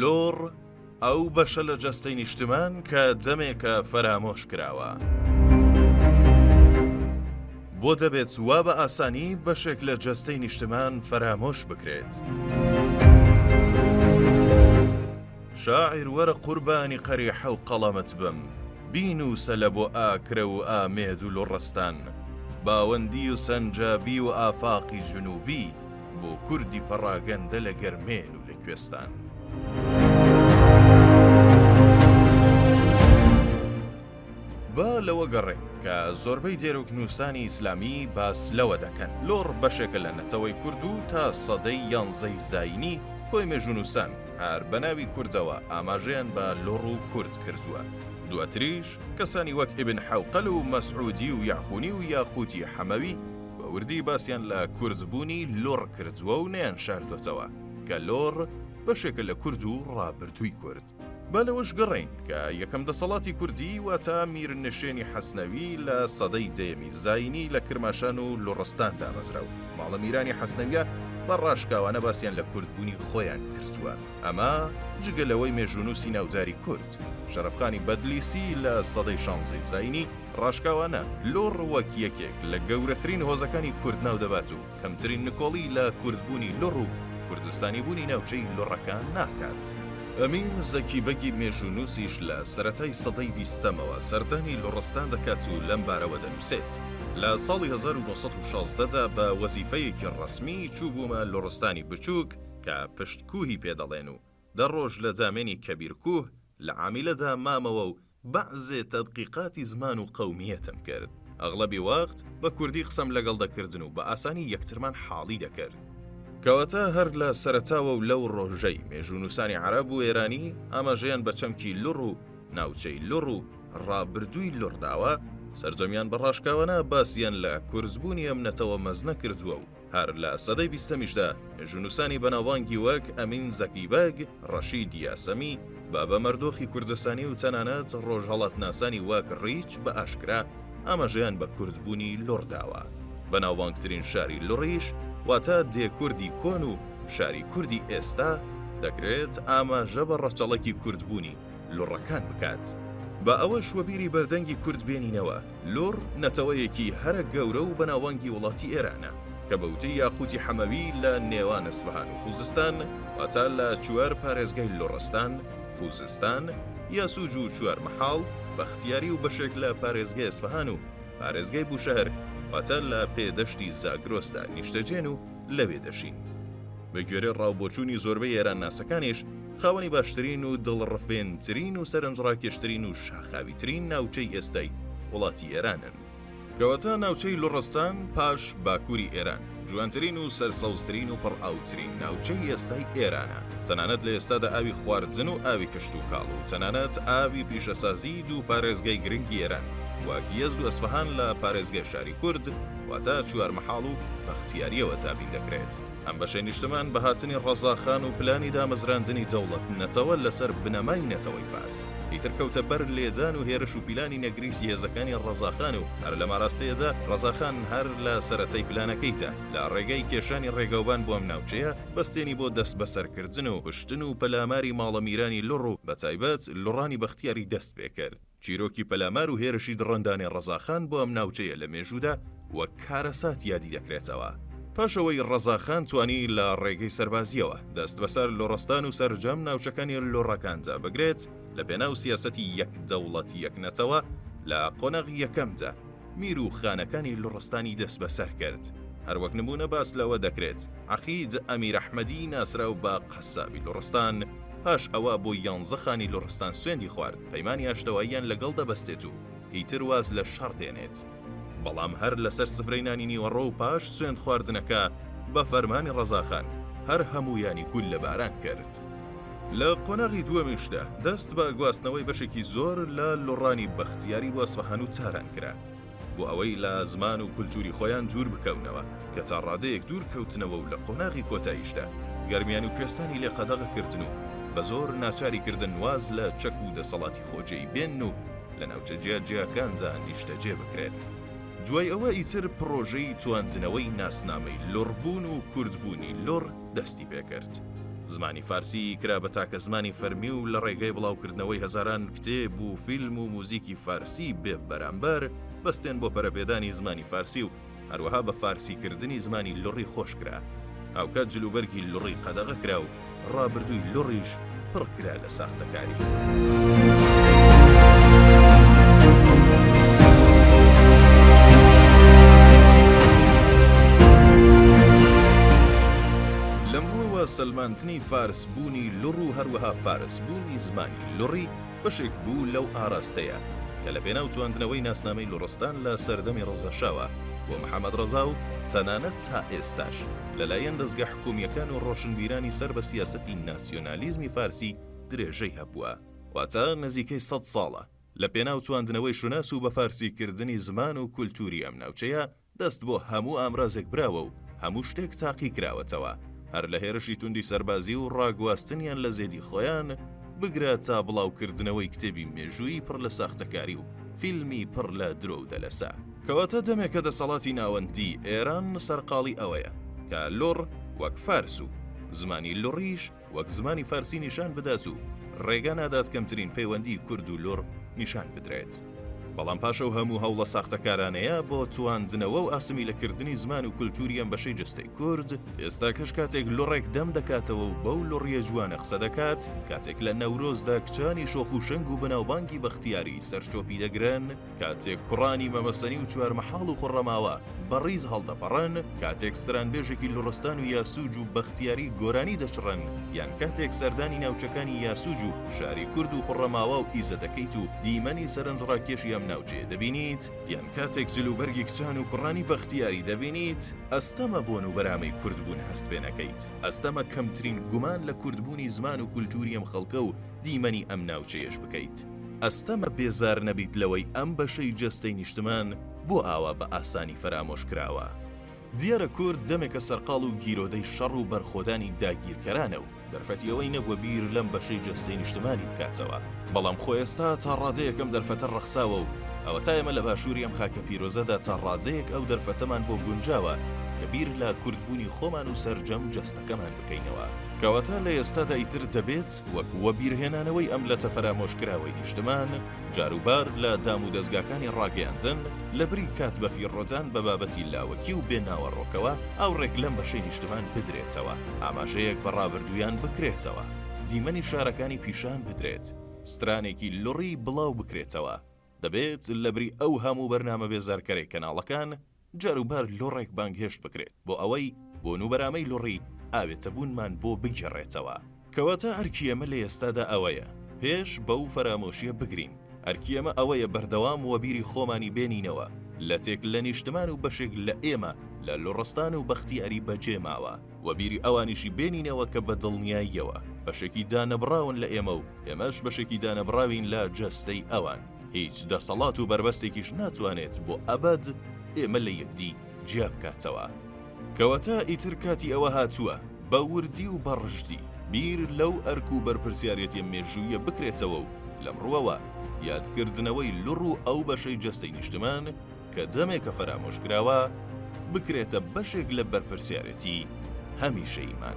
لۆڕ ئەو بەشە لە جەستەی نیشتمان کە جەمێکە فەرامۆش کراوە. بۆ دەبێت وا بە ئاسانی بەشێک لە جەستەی نیشتمان فەرامۆش بکرێت. شاعیر وەرە قوربانی قەریحە و قەڵەمت بم، بینووسە لە بۆ ئاکرە و ئامێد و لوڕستان، باوەندی و سەنجابی و ئافاقی جنووبی، بۆ کوردی پەڕاگەندە لە گەرمێن و لە کوێستان. با لەوە گەڕێین کە زۆربەی دێرۆکنووسانی ئیسلامی باس لەوە دەکەن، لوڕ بەشێکە لە نەتەوەی کورد و تا سەدەی یانزەی زایینی کۆی مێژوونووسان، هەر بە ناوی کوردەوە ئاماژەیان بە لوڕ و کورد کردووە. دواتریش کەسانی وەک ئیبن حەوقەل و مەسعوودی و یەعخوونی و یاقووتی حەمەوی بە وردی باسیان لە کوردبوونی لوڕ کردووە و نەیانشاردۆتەوە کە لوڕ بەشێکە لە کورد و ڕابردووی کورد. با لەوەش گەڕێین کە یەکەم دەسەڵاتی کوردی واتە میرنشێنی حەسنەوی لە سەدەی دەیەمی زایینی لە کرماشان و لوڕستان دامەزرا و، ماڵە میرانی حەسنەویە بە ڕاشکاوانە باسیان لە کورد بوونی خۆیان کردووە ئەمە جگە لەوەی مێژونوسی ناوداری کورد شەرفخانی بەدلیسی لە سەدەی شانزەی زینی ڕاشکاوانە لۆ ڕووەک یەکێک لە گەورەترین هۆزەکانی کورد ناو دەبات و کەمترین نکۆڵی لە کوردبوونی لۆڕ و کوردستانی بوونی ناوچەی لۆڕەکان ناکات. ئەمین زەکی بەگی مێژوونوسیش لە سەرەتای سەدەی بیستەمەوە سەردانی لۆڕستان دەکات و لەم بارەوە دەنووسێت. لە ساڵی هەزار و نۆ سەد و شازدە دا بە وەزیفەیەکی ڕەسمی چووبوومە لوڕستانی بچووک کە پشت کووهی پێ دەڵێن و دە ڕۆژ لە زامێنی کەبیر کووه لە عامیلە دا مامەوە و بەعزێ تەدقیقاتی زمان و قەومییەتم کرد. ئەغڵەبی وەخت بە کوردی قسەم لەگەڵ دەکردن و بە ئاسانی یەکترمان حاڵی دەکرد. کەواتە هەر لە سەرەتاوە و لەو ڕۆژەی مێژوونووسانی عەرەب و ئێرانی ئاماژەیان بە چەمکی لوڕ و ناوچەی لوڕ و ڕابردووی لوڕ داوە، سەرجەمیان بە ڕاشکاوانە باسیان لە کورزبوونی ئەم نەتەوە مەزنە کردووە و هەر لە سەدەی بیستەمیشدا مێژوونووسانی بەناوبانگی وەک ئەمین زەکی بەگ، ڕەشید یاسەمی، بابە مەردۆخی کوردستانی و تەنانەت ڕۆژهەڵاتناسانی وەک ڕیچ بە ئاشکرا ئاماژەیان بە کوردبوونی لوڕ داوە. بەناوبانگترین شاری لوڕیش واتە دێ کوردی کۆن و شاری کوردی ئێستا، دەکرێت ئاماژە بە ڕەچەڵەکی کوردبوونی لوڕەکان بکات. با ئەوەش وەبیری بەردەنگی کورد بێنینەوە، لوڕ نەتەوەیەکی هەرە گەورە و بەناوبانگی وڵاتی ئێرانە، کە بە وتەی یاقووتی حەمەوی لە نێوان ئەسفەهان و خووزستان، واتە لە چوار پارێزگای لوڕستان، خووزستان، یەسووج و چوارمەحاڵ، بەختیاری و بەشێک لە پارێزگای ئەسفەهان و پارێزگای بووشەهر، واتە لە پێ دەشتی زاگرۆسدا نیشتەجێن و لەوێ دەژین. بە گوێرەی ڕاوبۆچوونی زۆربەی ئێرانناسەکانیش، خاوەنی باشترین و دڵڕفێنترین و سەرنجڕاکێشترین و شاخاویترین ناوچەی ئێستای وڵاتی ئێرانن. کەواتە ناوچەی لوڕستان پاش باکووری ئێران، جوانترین و سەرسەوزترین و پڕئاوترین ناوچەی ئێستای ئێرانە، تەنانەت لە ئێستادا ئاوی خواردن و ئاوی کشتوکاڵ و تەنانەت ئاوی پیشەسازیی دوو پارێزگای گرنگی ئێران وەک یەزد و ئەسفەهان لە پارێزگای شاری کورد واتە چوارمەحاڵ و بەختیارییەوە دابین دەکرێت. ئەم بەشەی نیشتمان بە هاتنی ڕەزاخان و پلانی دامەزراندنی دەوڵەت نەتەوە لەسەر بنەمای نەتەوەی فارس ئیتر کەوتە بەر لێدان و هێرش و پیلانی نەگریسی هێزەکانی ڕەزاخان و هەر لەم ئاراستەیەدا ڕەزاخان هەر لە سەرەتای پلانەکەیدا لە ڕێگای کێشانی ڕێگاوبان بۆ ئەم ناوچەیە بەستێنی بۆ دەسبەسەرکردن و کوشتن و پەلاماری ماڵە میرانی لوڕ و بەتایبەت لوڕانی بەختیاری دەست پێکرد. چیرۆکی پەلامار و هێرشی دڕندانەی ڕەزاخان بۆ ئەم ناوچەیە لە مێژوودا وەک کارەسات یادی دەکرێتەوە. پاش ئەوەی ڕەزاخان توانی لە ڕێگەی سەربازییەوە دەست بەسەر لۆڕستان و سەرجەم ناوچەکانی لۆڕەکاندا بگرێت لە پێناو سیاسەتی یەک دەوڵەت یەک نەتەوە لە قۆناغی یەکەمدا، میر و خانەکانی لوڕستانی دەست بەسەر کرد. هەروەک نموونە باس لەوە دەکرێت، عەقید ئەمیر ئەحمەدی ناسراو بە قەسابی لوڕستان، پاش ئەوە بۆ یانزە خانی لوڕستان سوێندی خوارد، پەیمانی ئاشتەواییان لەگەڵ دەبەستێت و ئیتر واز لە شەڕ دێنێت. بەڵام هەر لەسەر سفرەی نانی نیوەڕۆ و پاش سوێند خواردنەکە، بە فەرمانی ڕەزاخان، هەر هەموویانی گوللەباران کرد. لە قۆناغی دووەمیشدا دەست بە گواستنەوەی بەشێکی زۆر لە لوڕانی بەختیاری بۆ ئەسفەهان و تاران کرا بۆ ئەوەی لە زمان و کولتووری خۆیان دوور بکەونەوە کە تا ڕادەیەک دوور کەوتنەوە و لە قۆناغی کۆتاییشدا گەرمیان و کوێستانی لێ قەدەغە کردن و بە زۆر ناچاری کردن واز لە چەک و دەسەڵاتی خۆجێی بێنن و لە ناوچە جیاجیاکاندا نیشتەجێ بکرێن. دوای ئەوە ئیتر پڕۆژەی تواندنەوەی ناسنامەی لوڕبوون و کوردبوونی لوڕ، دەستی پێ کرد. زمانی فارسی کرا بە تاکە زمانی فەرمی و لە ڕێگەی بڵاوکردنەوەی هەزاران کتێب و فیلم و موزیکی فارسی بێ بەرامبەر، بەستێن بۆ پەرەپێدانی زمانی فارسی و هەروەها بە فارسی کردنی زمانی لوڕی خۆش کرا. هاوکات جلوبەرگی لوڕی قەدەغە کرا و ڕابردووی لوڕیش، پڕ کرا لە ساختەکاری. لەم ڕووەوە سەلماندنی فارس بوونی لوڕ و هەروەها فارس بوونی زمانی لوڕی بەشێک بوو لەو ئاراستەیە کە لە پێناو تواندنەوەی ناسنامەی لوڕستان لە سەردەمی ڕەزاشاوە بۆ محەمەد ڕەزا و تەنانەت تا ئێستاش لە لایەن دەزگە کۆمییەکان و ڕۆشنبیرانی سەر بە سیاسەتی ناسیۆنالیزمی فارسی درێژەی هەبووە، واتە نزیکەی سەد ساڵە، لە پێناو تواندنەوەی شوناس و بە فارسیکردنی زمان و کولتووری ئەم ناوچەیە، دەست بۆ هەموو ئامرازێک براوە و هەموو شتێک تاقی کراوەتەوە، هەر لە هێرشی توندی سەربازی و ڕاگواستنیان لە زێدی خۆیان، بگرە تا بڵاوکردنەوەی کتێبی مێژوویی پڕ لە ساختەکاری و فیلمی پڕ لە درۆ و دەلەسە. کەواتە دەمێکە دەسەڵاتی ناوەندیی ئێران سەرقاڵی ئەوەیە کە لوڕ وەک فارس و زمانی لوڕیش وەک زمانی فارسی نیشان بدات و ڕێگا نادات کەمترین پەیوەندیی کورد و لوڕ نیشان بدرێت. بەڵام پاش ئەو هەموو هەوڵە ساختەکارانەیە بۆ تواندنەوە و ئاسمیلەکردنی زمان و کولتووری ئەم بەشەی جەستەی کورد، ئێستاکەش کاتێک لوڕێک دەم دەکاتەوە و بەو لوڕییە جوانە قسە دەکات، کاتێک لە نەورۆزدا کچانی شۆخ و شەنگ و بەناوبانگی بەختیاری سەرچۆپی دەگرن، کاتێک کوڕانی مەمەسەنی و چوارمەحاڵ و خوڕەماوە بە ڕیز هەڵدەپەڕن، کاتێک سترانبێژێکی لوڕستان و یاسوج و بەختیاری گۆرانی دەچڕن، یان کاتێک سەردانی ناوچەکانی یاسوج و شاری کورد و خوڕەماوا و ئیزە دەکەیت و دیمەنی سەرنجڕاکێشی ئەم ناوچەیە دەبینیت، یان کاتێک جل و بەرگی کچان و کوڕانی بەختیاری دەبینیت، ئەستەمە بۆن و بەرامەی کوردبوون هەست پێ نەکەیت، ئەستەمە کەمترین گومان لە کوردبوونی زمان و کولتووری ئەم خەڵکە و دیمەنی ئەم ناوچەیەش بکەیت. ئەستەمە بێزار نەبیت لەوەی ئەم بەشەی جەستەی نیشتمان بۆ ئاوا بە ئاسانی فەرامۆش کراوە. دیارە کورد دەمێکە سەرقاڵ و گیرۆدەی شەڕ و بەرخۆدانی داگیرکەرانە و دەرفەتی ئەوەی نەبووە بیر لەم بەشەی جەستەی نیشتمانی بکاتەوە، بەڵام خۆ ئێستا تا ڕادەیەک ئەم دەرفەتە ڕەخساوە و ئەوەتا ئێمە لە باشووری ئەم خاکە پیرۆزەدا تا ڕادەیەک ئەو دەرفەتەمان بۆ گونجاوە کە بیر لە کوردبوونی خۆمان و سەرجەم جەستەکەمان بکەینەوە. کەواتە لە ئێستادا ئیتر دەبێت وەک وەبیرهێنانەوەی ئەم لەتە فەرامۆشکراوەی نیشتمان، جاروبار لە دامودەزگاکانی ڕاگەیاندن، لەبری کات بەفیڕۆدان بە بابەتی لاوەکی و بێ ناوەڕۆکەوە، ئاوڕێک لەم بەشەی نیشتمان بدرێتەوە، ئاماژەیەک بە ڕابردوویان بکرێتەوە، دیمەنی شارەکانی پیشان بدرێت، سترانێکی لڕی بڵاوبکرێتەوە، دەبێت لەبری ئەو هەموو بەرنامە بێزارکەرەی کەناڵەکان، جاروبار لوڕێک بانگهێشت بکرێت بۆ ئەوەی بۆن و بەرامەی لوڕی ئاوێتەبوونمان بۆ بگێڕێتەوە. کەواتە ئەرکی ئێمە لە ئێستادا ئەوەیە پێش بەو فەرامۆشییە بگرین، ئەرکی ئێمە ئەوەیە بەردەوام وەبیری خۆمانی بێنینەوە لەتێک لە نیشتمان و بەشێک لە ئێمە لە لوڕستان و بەختیاری بەجێماوە، و بیری ئەوانیشی بێنینەوە کە بە دڵنیاییەوە بەشێکی دانەبڕاون لە ئێمە و ئێمەش بەشێکی دانەبڕاوین لە جەستەی ئەوان، هیچ دەسەڵات و بەربەستێکیش ناتوانێت بۆ ئەبەد ئێمە لە یەکدی جیا بکاتەوە. کەواتە ئیتر کاتی ئەوە هاتووە بە وردی و بە ڕژدی بیر لەو ئەرک و بەرپرسیارێتیە مێژوویە بکرێتەوە و لەم ڕووەوە یادکردنەوەی لڕ و ئەو بەشەی جەستەی نیشتمان، کە جەمێکە فەرامۆشکراوە، بکرێتە بەشێک لە بەرپرسیارێتی هەمیشەییمان.